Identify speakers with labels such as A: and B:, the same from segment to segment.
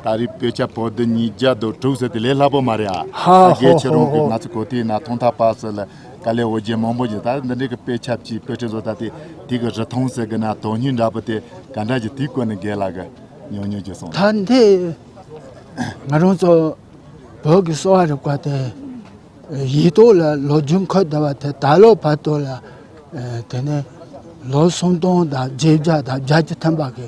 A: ད་རེས་བོད་ཆབ་བོད་བདུན་ཉིས་བརྒྱ་དོ་དྲུག་ཟེར་དེ་ལས་སླ་པོ་མ་རེད་ཨ། ཧ་ཧ་ཧོ་ཧོ་ཧོ། རྒྱལ་ཕྱི་རོང་གི་
B: ང་ཚོ་
A: གོ་ཐའི་ན་ཐོང་ཐ་པ་ཟེར་ལ་ཀ་ལེ་འོ་རྒྱན་མང་པོ་ཡིན་ད་འདི་འདྲའི་གི་པེ་ཆབ་ཀྱིས་པེ་ཁྲི་བཟོ་ད་དེ་དེ་གི་རི་ཐོང་ཟེར་གི་ན་དོ་སྙིང་འདྲ་པོ་དེ་ག་འདྲ་གྱི་དེ་བཀོད་ནི་རྒས་ལ་གི་ཉོ་ཉོ་གྱི་སོང། ད་འདི་
B: ང་རང་ཚོ་བོད་ཀྱི་གསོ་བ་རིག་པ་དེ་ཡིད་དོ་ལ་ལོ་རྒྱུན་འཁོད་ད་བ་དེ་ད་ལོ་བར་དོ་ལ་དེ་ནས་ལོ་སུམ་སྟོང་དང་བརྒྱད་བརྒྱ་དང་བརྒྱ་ཅུ་ཐམ་པ་གི་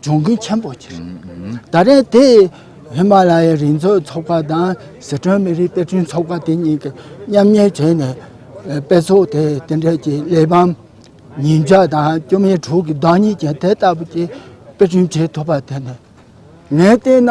B: འབྱུང་ཁུངས་ཆེན་པོ་ཆགས་ཡོད། ད་རེས་དེ་ཧི་མ་ལ་ཡའི་རི་འཛེག་ཚོགས་པ་དང་ཟི་ཁྲོན་མི་རིགས་དཔེ་སྐྲུན་ཚོགས་པ་དེ་གཉིས་ཀྱིས་མཉམ་གཉེར་བྱས་ནས་དཔེ་ཚོགས་དེ་དེ་འབྲེལ་གྱི་གླེགས་བམ་ཉིས་བརྒྱ་དང་བཅུ་མའི་དྲུག་གི་བདག་ཉིད་ཀྱང་དེ་ལྟ་བུ་ཅིག་དཔེ་སྐྲུན་བྱེད་ཐུབ་པར་བརྟེན་ནས་ངས་བལྟས་ན།